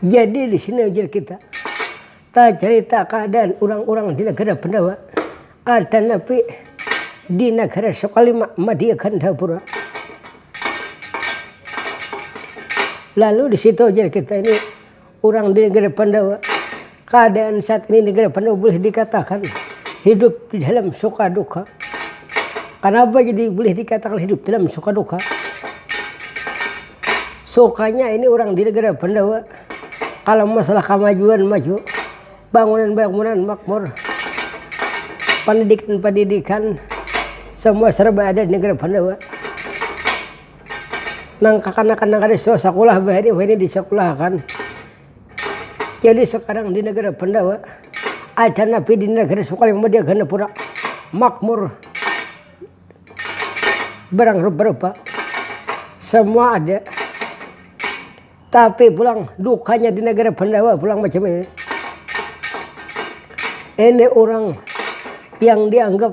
Jadi di sini ujar kita, ta carita kaadaan urang-urang di nagara Pandawa, ada napi di nagara Sokalima Madia Gandapura. Lalu di situ ujar kita ini Urang di negara Pandawa, keadaan saat ini negara Pandawa boleh dikatakan hidup di dalam suka duka. Kenapa jadi boleh dikatakan hidup dalam suka duka? Sukanya ini urang di negara Pandawa kalau masalah kemajuan maju, bangunan bangunan makmur, pendidikan pendidikan semua serba ada di negara Pandawa. nang kakanakan nang kada suah sakulah wahini wahini di sakulah akan jadi sekarang di negara Pandawa ada nabi di negara Sukal yang media ganda pura makmur barang rupa-rupa semua ada tapi pulang dukanya di negara Pandawa pulang macam ini ini orang yang dianggap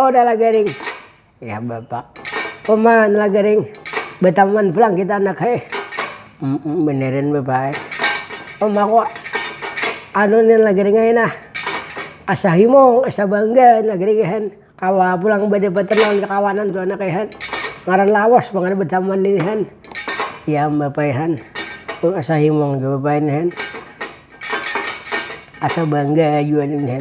Oda lah garing, ya bapak uma lah garing bataman pulang kita anak he, um beneran bapak he uma ko anu ni lah garing ai nah asa himung asa bangga nah garing he kawa pulang badapatan lawan kakawanan tu anak he ngaran lawas pang kada bataman ini he, ya am bapak he asa himung jua bapak he asa bangga jua ini he.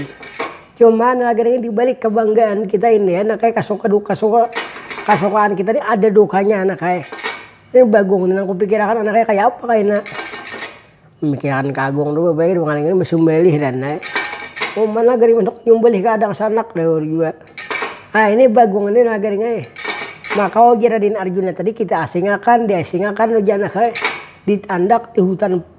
Cuman lagi-lagi dibalik kebanggaan kita ini ya, nakaya kasuka duka suka kasukaan kita nih ada dukanya nakaya ini Bagong nih nang kupikirakan anaknya kaya apa kaina, memikirakan ka Agung dulu bae dua ngaran ngini basumbelih dan ai, cuman lagi-lagi handak nyumbelih ka dangsanak jar jua, ah ini Bagong ini lagi-lagi ai maka wau jar Raden Arjuna tadi kita asingakan diasingakan wajah anak ai di tandak di hutan.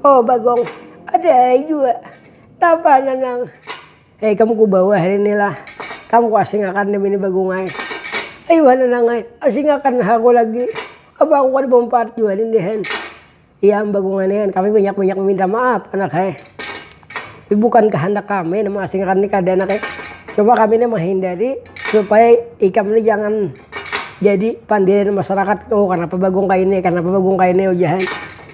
Oh bagong, ada jua. Napa nanang? Hei kamu ku bawa hari ini lah. Kamu ku asingakan demi ini bagungai. Ayu ha nanang ai, asingakan ha aku lagi. Apa aku kada mampaat jua nih dihan. Iya am bagungai nih, kami banyak-banyak maminta maaf anak hai. Tapi bukan kahandak kami nih maasingakan nih kada anak ai. Cuma kami nih mahindari supaya ikam nih jangan jadi pandirian masyarakat. Oh kanapa bagong kaini, kanapa bagong kaini ujahan.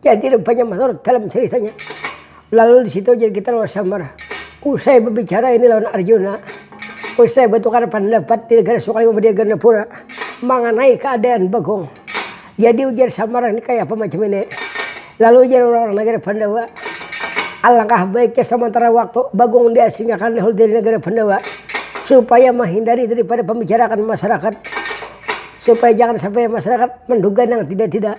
Jadi rupanya maturut dalam caritanya, lalu di situ jadi kita lawan samar. Usai berbicara ini lawan Arjuna, usai bertukar pandapat di negara Sukali mambadiak Ganapura manganai keadaan Bagong. Jadi ujar samar ini kaya apa macam ini. Lalu ujar orang-orang nagara Pandawa, alangkah baiknya samantara waktu Bagong diasingakan dahulu dari nagara Pandawa supaya mahindari daripada pambicarakan masyarakat supaya jangan sampai masyarakat menduga nang tidak-tidak.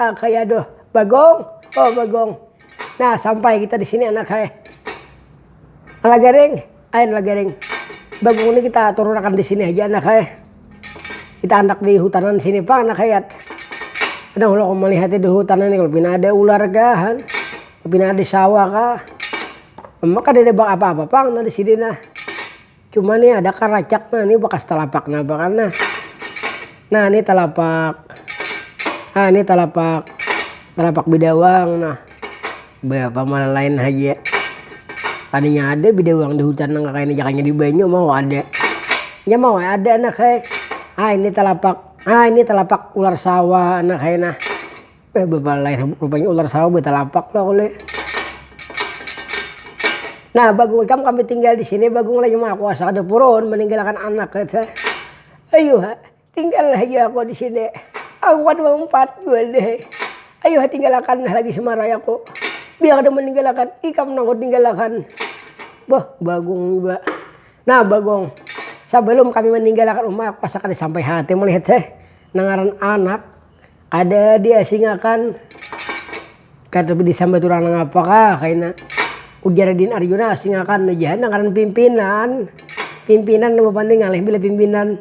Ah kaya aduh bagong oh bagong nah sampai kita di sini anak hai ala garing ain ala garing bagong ini kita turun akan di sini aja anak hai kita andak di hutanan sini pang anak hayat kadang kalau aku melihat di hutanan ini kalau pina ada ular kah kan pina ada sawah kah maka ada apa-apa pang nah di sini nah Cuma nih ada kan racak nah ini bekas telapak nah apa kan nah. Nah ini telapak. Nah ini telapak. Telapak bidawang nah. Berapa malah lain aja. Tadinya ada bidawang di hutan nang kayak ini jakanya di banyu mau ada. Ya mau ada anak hai. Ah ini telapak. Ah ini telapak ular sawah anak hai nah. Eh bepalai rupanya ular sawa betalapak lah kule. Nah bagung ikam kami tinggal disini bagung lagi maha kuasa kada purun meninggalkan anak kata ayuha tinggal haja aku disini aku kada maumpat buhan deh ayuha tinggalakan nah lagi semarai aku biar kada meninggalkan ikam nang kutinggalakan bah bagung jua nah bagung sabalum kami meninggalkan uma aku asa kada sampai hati melihat nang ngaran anak. Kada diasingakan, kada disambat urang nangapa kah kaina, ujar Raden Arjuna, asingakan haja ha nang ngaran pimpinan, pimpinan nang bapandir ngalih bila pimpinan,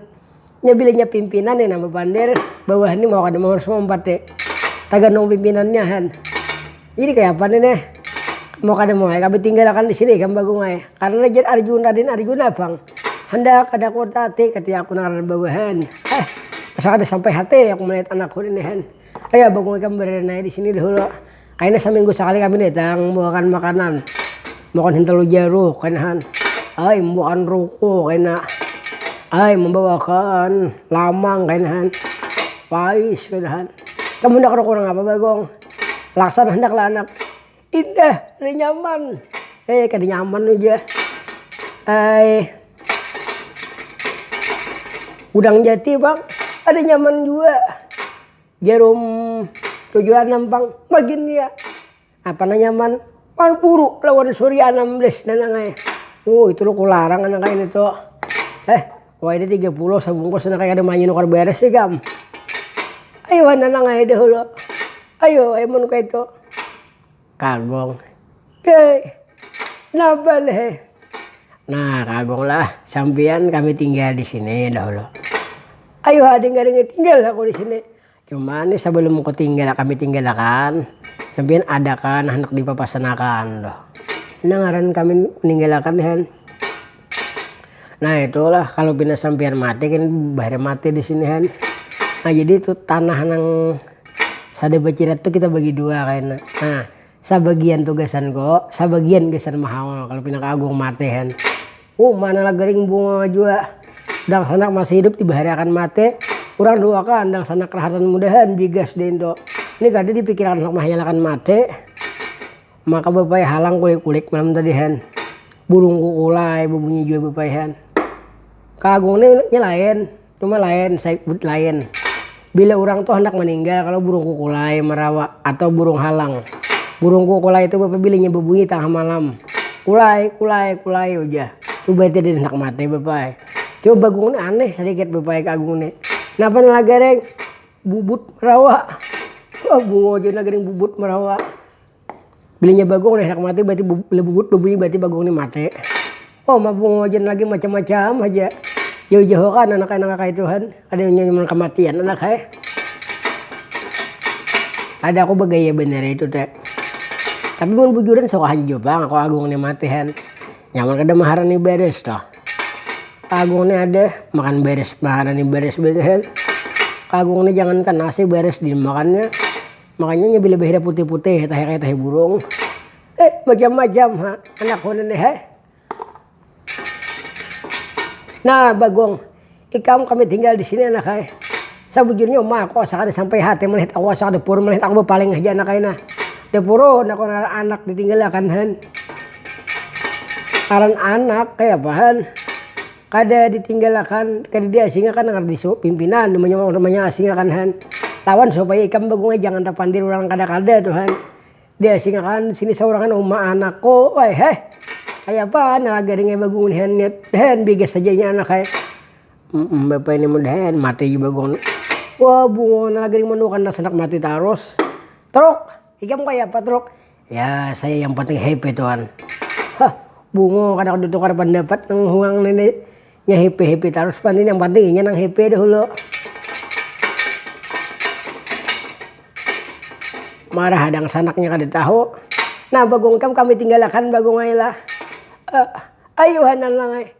nya bila nya pimpinan nih nang bapandir bawahan nih mau kada mau harus maumpat nih, tagantung pimpinannya han. Jadi kaya apa nih neh. Mau kada mau ai kami tinggal akan disini ikam bagong ai. Karena jar arjun raden arjuna pang. Handak kada kuat hati kati aku nang raden bagong hen. Heh asa kada sampai hati aku melihat anakku ini hen. Ayo bagong ikam baradan ai disini dahulu. Kaina saminggu sakali kami datang membawakan makanan. Membawakan hintalu jaruh kaina han. Ai membawakan ruku kaina. Ai membawakan lamang kaina han. Pais kaina han. Ikam handak ruku nang apa bagong. Laksan handak lah anak. Indah, kada nyaman. Eh, kada nyaman aja. Ay. Udang jati, Bang. Ada nyaman juga. Jarum tujuan nampang magin ya. Apa nah nyaman? Marburu lawan Surya 16 nanangai. Oh, itu lo kularang anak ini tuh. Eh, Wayahini tiga puluh sabungkus nah kaya kada manyu nukar baris ikam. Ayu ha nanang ai dahulu. Ayu ai mun kaitu. Kagung. Gei. Napa leh. Nah kagung lah sampiyan kami tinggal disini dahulu. Ayu ha dingga ringi tinggal aku disini. Cuman nih sabalum ku tinggal kami tinggal akan, kam pian ada kah nah handak di papasan akan tuh. Nah ngaran kami ninggil akan nih han. Nah itu lah kalu pina sampian mati kan bahari mati di sini han. Nah jadi itu tanah nang sada bacirat tuh kita bagi dua kaina. Nah sabagian tuh gasan ko, sabagian gasan mahaul kalu pina ka agung mati han. Hu, mana lah garing bunga jua. Dangsanak masih hidup tiba hari akan mati. Urang duakan dangsanak rahatan mudahan bigas dintu. Ni kada dipikirakan handak mahayal akan mati. Maka bapayah halang kulik-kulik malam tadihan. Burung kukulai babunyi jua bapayhan. Ka Agung ni nya lain. Cuma lain saik but lain bila urang tu handak maninggal kalo burung kukulai marawa atau burung halang. Burung kukulai tu bapa bila inya babunyi tangah malam kulai kulai kulai ujah tu berarti ada handak mati bapa ai. Cuma bagung ni aneh sadikit bapa ai ka agung ni. Napa ni lagaring bubut marawa, bungul jua lagaring bubut marawa. Bilinya bagong nih handak mati berarti lebubut bebunyi berarti bagong nih mati. Oh mabung wajan lagi macam-macam haja. Jauh-jauh kan anak anak kaya tuhan. Ada yang nyaman kematian anak hai. Ada aku begaya bener itu teh. Tapi mun bujuran sok haja jua pang aku agung nih mati han. Nyaman kada maharani beres toh. Agung nih ada makan beres maharani beres bener han. Agung nih jangankan nasi beres dimakannya. Makanya nya bila bahida putih-putih tahi kaya tahi burung. Eh majam-majam ha anak ku nih he. Nah bagong ikam kami tinggal di sini anak ai. Sabujurnya uma aku asa kada sampai hati melihat aku asa kada puur melihat aku bapaling haja anak ai nah. Dah purun aku ngaran anak ditinggalakan han. Ngaran anak kayapa han. Kada ditinggalakan, kada diasingakan nang disu pimpinan manyasingakan han lawan supaya ikam bagungai jangan tapandir urang kada-kada tu han. Diasingakan sini saurangan uma anak ko ai heh. Kayapa han lagari ngai bagungun han nih han bigas haja inya anak ai. Umm bapa ini mun han mati ja bagungun. Wah bungonan lagari manduakan nang sanak mati tarus. Truk, ikam kayapa truk. ya saya yang penting happy tuan hah bungo kada ditukar pendapat nang huang ini nya happy happy terus penting yang penting inya nang happy dahulu marah adang sanaknya kada tahu nah bagong kam kami tinggalakan bagong ailah uh, eh, ayuhanan lang ai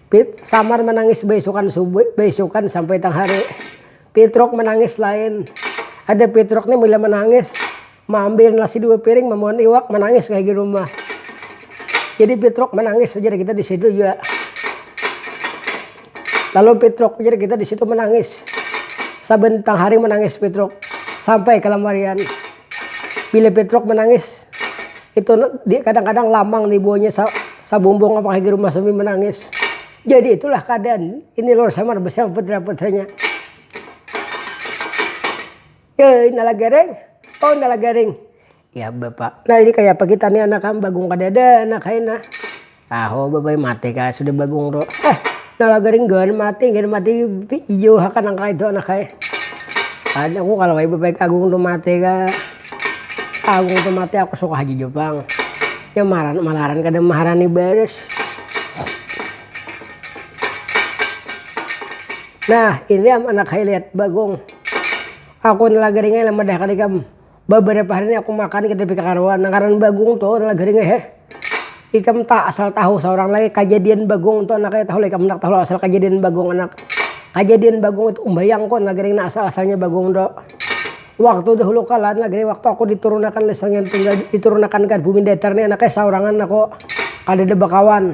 Pit, samar manangis baisukan subuh baisukan sampai tang hari. Pitruk manangis lain. Ada Pitruk nih bila manangis maambil nasi dua piring mamawan iwak manangis kaya di rumah. Jadi Pitruk manangis ujar kita di situ jua. Lalu Pitruk ujar kita di situ manangis. Saban tang hari manangis Pitruk sampai kalamarian. Bila Petruk manangis, itu kadang-kadang lamang nih buahnya sa sabumbung apa kayak di rumah sambil menangis. Jadi itulah keadaan ini Lor Samar bersama putra-putranya. Ya, ini lagi garing. Oh, ini lagi garing. Ya, Bapak. Nah, ini kayak apa kita nih anak kan bagung kadada anak kayak nah. Tahu babai mati kah sudah bagung tu eh nala garing gan mati gan mati ijo hakan nang kaya itu nang ada ku kalu babai agung tu mati kah agung tu mati aku suka haja jua pang ya maran malaran kada maharani baris nah ini am anak hai lihat bagung aku nala garing ai lah madahakan ikam. Babarapa hari ni aku makan kada pika karuan nang ngaran bagung tu adalah garing ai heh. Ikam ta asal tahu saurang lagi kajadian bagung tu anak kaya tahu lah ikam handak tahu asal kajadian bagung anak. Kajadian bagung itu umbayang ku adalah garing nang asal-asalnya bagung tu. Waktu dahulu kala adalah garing waktu aku diturunakan oleh Sanghyang Tunggal diturunakan ka bumi datar ni anak kaya saurangan aku kadada bakawan.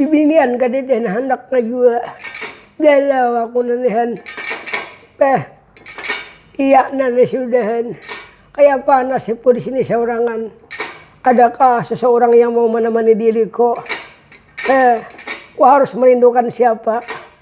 Bibinian kadada nang handak ka jua. Galau aku nang nih han. Bah, iyak nang nih sudah han. Kayapa nasibku disini saurangan. Adakah seseorang yang mau menemani diriku. Bah, ku harus merindukan siapa.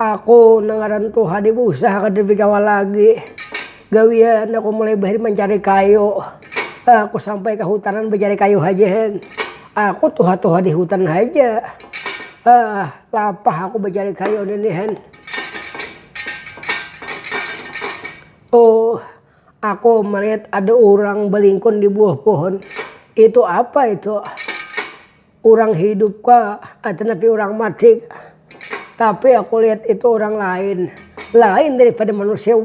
Aku nang ngaran tuha di busah kada bikawa lagi. Gawian aku mulai bahari mancari kayu. Aku sampai ka hutanan bacari kayu haja hen. Aku tuha-tuha di hutan haja. Hah, lapah aku bacari kayu nini hen. Tuh, aku malihat ada urang balingkun di buah pohon. Itu apa itu? Urang hidup ka atau napi urang mati ka. Tapi aku lihat itu urang lain. Lain dari pada manusia.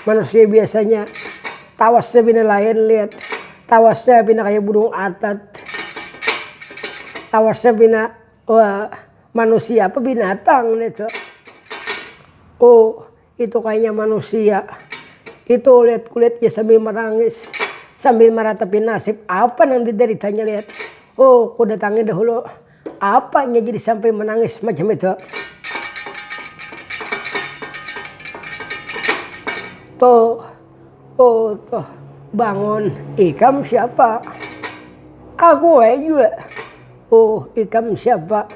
Manusia biasanya tawasnya pina lain lihat. Tawasnya pina kaya burung atat. Tawasnya pina manusia apa binatang nitu. Itu kayanya manusia. Itu liat kulitnya sambil merangis. Sambil meratapi nasib apa nang dideritanya liat. Oh kudatangi dahulu. Apa inya jadi sampai menangis macam itu. Toh, oh toh, bangun. Ikam siapa? Aku he juga. Oh ikam siapa?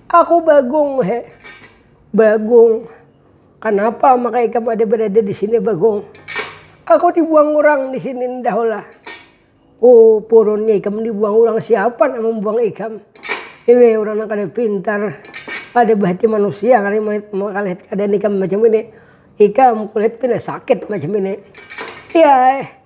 Aku Bagong he. Bagong. Kanapa maka ikam ada berada di sini Bagong? Aku dibuang urang di sini ndah ulah. Oh, purunnya ikam dibuang urang siapa nang mambuang ikam? Ini urang nang kada pintar, kada bahati manusia kali malihat keadaan ikam macam ini. Ikam kulihat pina sakit macam ini. Iyaeh,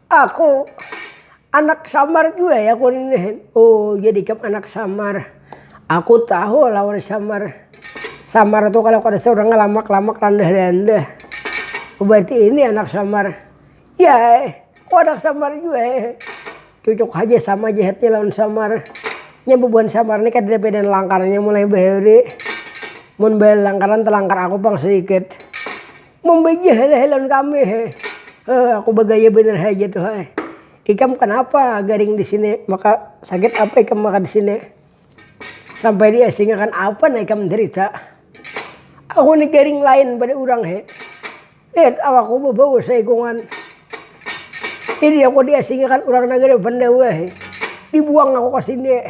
Aku anak samar jua ya aku nih. Oh jadi iya ikam anak samar. Aku tahu lah orang samar. Samar tuh kalau kada sih orangnya lamak-lamak randah-randah. Oh berarti ini anak samar. Ya eh, aku anak samar jua eh. Cucuk haja sama jehetnya lawan samar. Nya bubuhan samar nih kadada beda langkarnya mulai bahari. Mun balangkaran talangkar aku pang sedikit. Mambajah ai leh lawan kami he. Heh aku bagaya banar haja tu he. Ikam kanapa garing di sini, maka sakit apa ikam maka di sini. Sampai di asingakan apa nah ikam menderita. Aku ni garing lain pada urang he. Lihat awakku babau saikungan. Ini aku di asingakan urang nagari Pandawa he. Dibuang aku ka sini.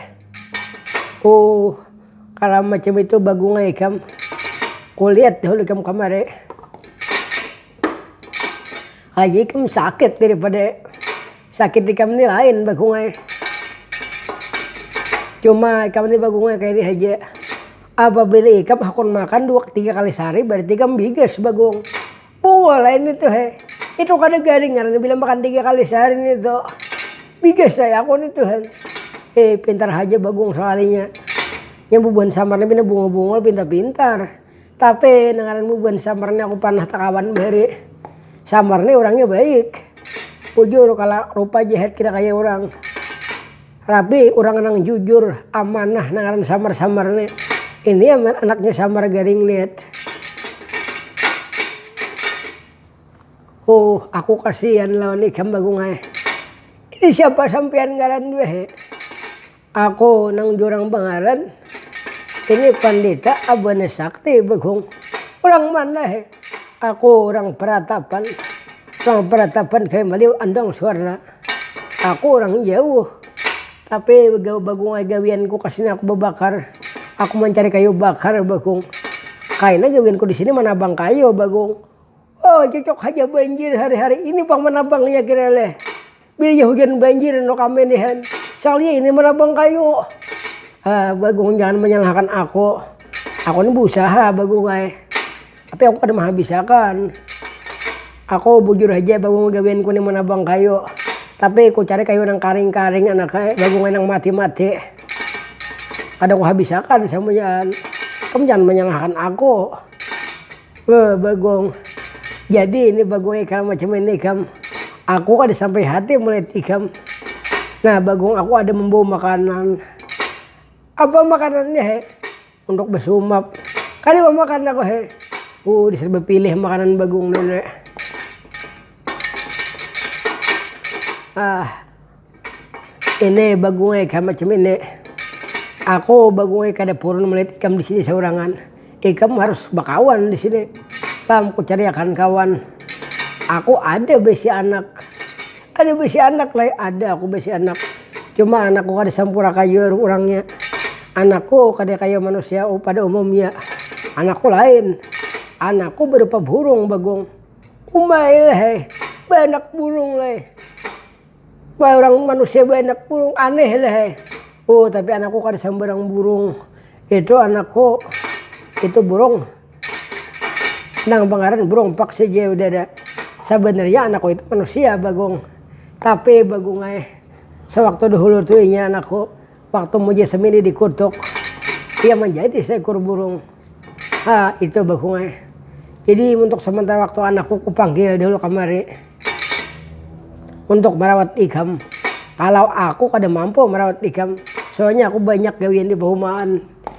Oh. Kalam macam itu bagungai ikam. Kulihat dahulu ikam kamari. Lagi ikam sakit daripada sakit ikam ni lain bagungai. Cuma ikam ni bagungai kaya ni haja. Apabila ikam hakun makan dua tiga kali sahari berarti ikam bigas bagung. Pungul lain itu he. Itu kada garing ngarannya bila makan tiga kali sehari ni itu. Bigas saya aku ni tuh. Eh pintar haja bagung salarinya. Yang bubuhan samar ni pina bunga bungul pintar-pintar. Tapi nang ngaran bubuhan samar ni aku panah takawan bahari. Samar ni orangnya baik. Bujur kala rupa jahat kita kaya orang. Rabi urang nang jujur, amanah nang ngaran Samar Samar ni. Ini ya man anaknya Samar Garing lihat. Huh aku kasian lawan ikam Bagong ai. Ini siapa sampiyan ngaran jua he. Aku nang jurang bangaran. Ini Pandita abahnya Sakti Bagong. Urang mana he. Aku urang Peratapan. Urang Peratapan Kalimaling Andong Suwarna. Aku urang jauh, tapi bakung ai gawianku kasini aku babakar, aku mancari kayu bakar bakung, kaina gawianku disini manabang kayu bakung, oh cocok haja banjir hari-hari ini pang manabangnya kira leh, bilanya hujan banjir enok kami nihan soalnya ini manabang kayu, ha bakung jangan menyalahkan aku, aku ni beusaha bakung ai. Tapi aku kada mahabis akan. Aku bujur haja bagungul gawianku ni manabang kayu. Tapi ku cari kayu nang karing-karing anaknya bagungul nang mati-mati. Kada ku habis akan samunyaan. Kam jangan manyalahkan aku. Beuh bagung. Jadi ini bagung ikam macam ini ikam. Aku kada sampai hati melihat ikam. Nah bagung aku ada membawa makanan. Apa makanannya he? Untuk basumap. Kada mau makan aku he. Uh dasar bapilih makanan bagung nih ne. Ah. Ini bagung e kaya macam ini. Aku bagung e kada purun melihat ikam di sini saurangan. Ikam harus bakawan di sini. Paham, ku cariakan kawan. Aku ada baisi anak. Kada bisi anak lai, ada aku bisi anak. Cuma anakku kada sampura kaya urangnya. Anakku kada kaya manusia pada umumnya. Anakku lain. Anakku berupa burung, Bagong. Umai lah ai, baanak burung lah ai. Kaya urang manusia baanak burung, aneh lah ai. Uh, tapi anakku kada sambarang burung. Itu anakku, itu burung. nang bangaran burung paksi ja udah ada. Sabanarnya anakku itu manusia bagung, tapi bagung ai sewaktu dahulu tu inya anakku waktu muja semini dikutuk ia manjadi seekor burung ha itu bagung ai jadi untuk sementara waktu anakku kupanggil dahulu kamari untuk merawat ikam kalau aku kada mampu merawat ikam soalnya aku banyak gawian di bahumaan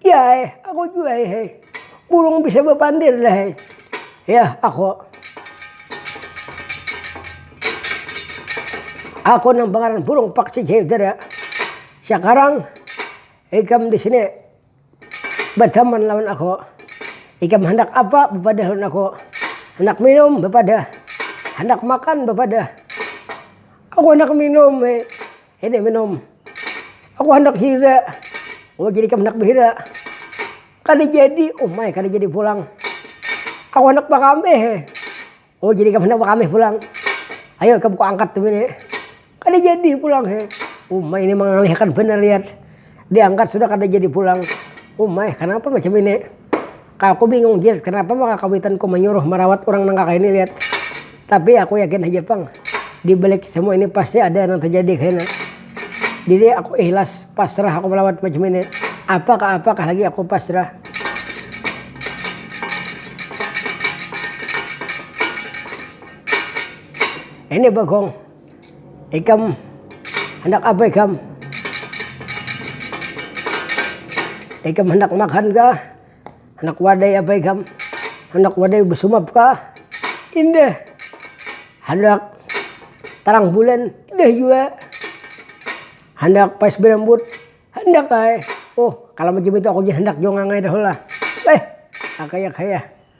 Yah eh, aku jua eh, eh. Burung bisa bapandir lah eh. Yah, aku. Aku nang pangaran burung paksi jayudara. Sakarang ikam di sini berteman lawan aku. Ikam hendak apa bepadah lawan aku. Hendak minum bepadah. Hendak makan bepadah. Aku hendak minum eh. Hida minum. Aku handak hira. Oh jadi ikam handak bahira. Kada jadi. Oh mai kada jadi pulang. Aku handak bakamih he. Oh jadi ikam handak bakamih pulang. Ayo ikam kuangkat tu bini. Kada jadi pulang he. Oh mai ini mangalih akan banar yat. Diangkat sudah kada jadi pulang. Umai, kanapa macam ini? Kak aku bingung Jil, kanapa maka kawitan ku manyuruh marawat urang nang kakaini lihat. Tapi aku yakin haja pang, di balik semua ini pasti ada nang terjadi kaina. Jadi aku ihlas, pasrah aku marawat macam ini. Apa kah apa kah lagi aku pasrah. Ini Bagong, Ikam handak apa ikam. Ikam handak makan kah, handak wadai apa ikam, handak wadai besumap kah, indah, handak tarang bulan indah jua, handak pais berambut handak ai, oh kalo macam itu aku ja handak jua ngangai dah lah, eh kakaya kaya.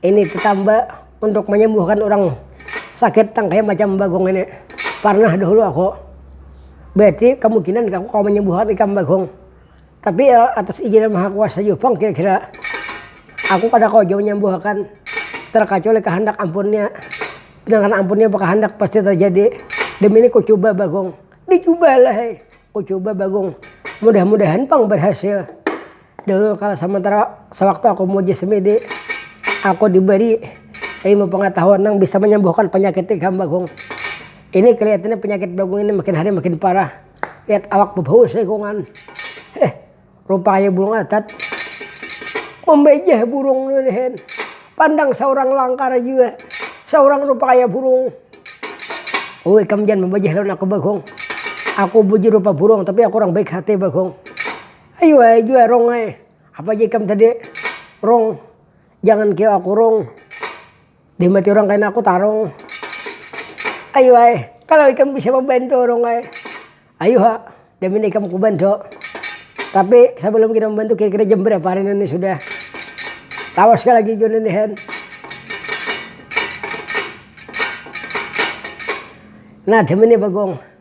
Ini tetamba untuk menyembuhkan urang sakit nang kaya macam bagong ini. Parnah dahulu aku. Berarti kemungkinan aku kawa menyembuhkan ikam bagong. Tapi ya atas izin yang maha kuasa jua pang kira-kira. Aku kada kawa jua menyembuhakan terkacuali kehendak ampunnya. Sedangkan ampunnya bekahendak pasti terjadi. Demi ini kucuba bagong. Dicubalah ai. Kucuba bagong. Mudah-mudahan pang berhasil. Dulu kala samantara sawaktu aku muji semidi, aku diberi ilmu pangatahuan nang bisa manyambuhkan panyakit tikam bagong. Ini kalihatannya panyakit bagong ini makin hari makin parah. Lihat awak babau saikungan. Heh, rupa kaya burung atat. Mambajah burung ni lehen. Pandang saurang langkar jua. Saurang rupa kaya burung. Ui ikam jangan mambajah lawan aku bagong. Aku bujur rupa burung tapi aku urang baik hati bagong. Ayu ai jua rong ai, apa ja ikam tadi rong, jangan kio aku rong, dihambati orang kaina aku tarong, ayu ai kalo ikam bisa membantu rong ai, ayu ha jaminan ikam kubantu, tapi sebelum kita membantu kira-kira jam berapa hari ini sudah, lawas kah lagi jua ini hen, nah dimini bagong.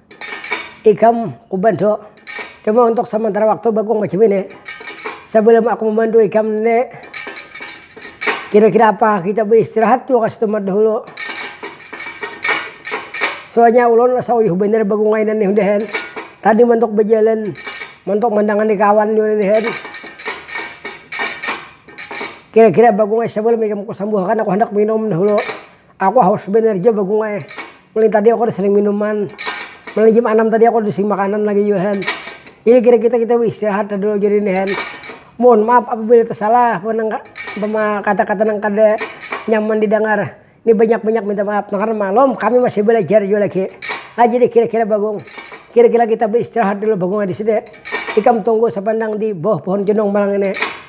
Ikam kubantu, cuma untuk samantara waktu bakung macam ini, sebelum aku membantu ikam ni kira-kira apa kita beistirahat jua ka setempat dahulu, soalnya ulun rasa uyuh banar bakung kainan ni sudah kan, tadi mantuk bajalan mantuk mandangani kawan jua ini kan, kira-kira bakung ai sebelum ikam kusambuhakan aku handak minum dahulu. Aku haus banar jua bagung ai. Mulai tadi aku kada sering minuman. Mulai jam anam tadi aku kada sing makanan lagi jua hen. Jadi kira kita kita baistirahat lah dulu jadi nih hen. Mohon maaf apabila tasalah umpama kata kata nang kada nyaman di dangar. Ini banyak banyak minta maaf nang karna malum kami masih balajar jua lagi. Nah jadi kira kira bagung, kira kira kita baistirahat dulu bagung ai disini. Ikam tunggu sapandang di bawah pohon cundung malang ini.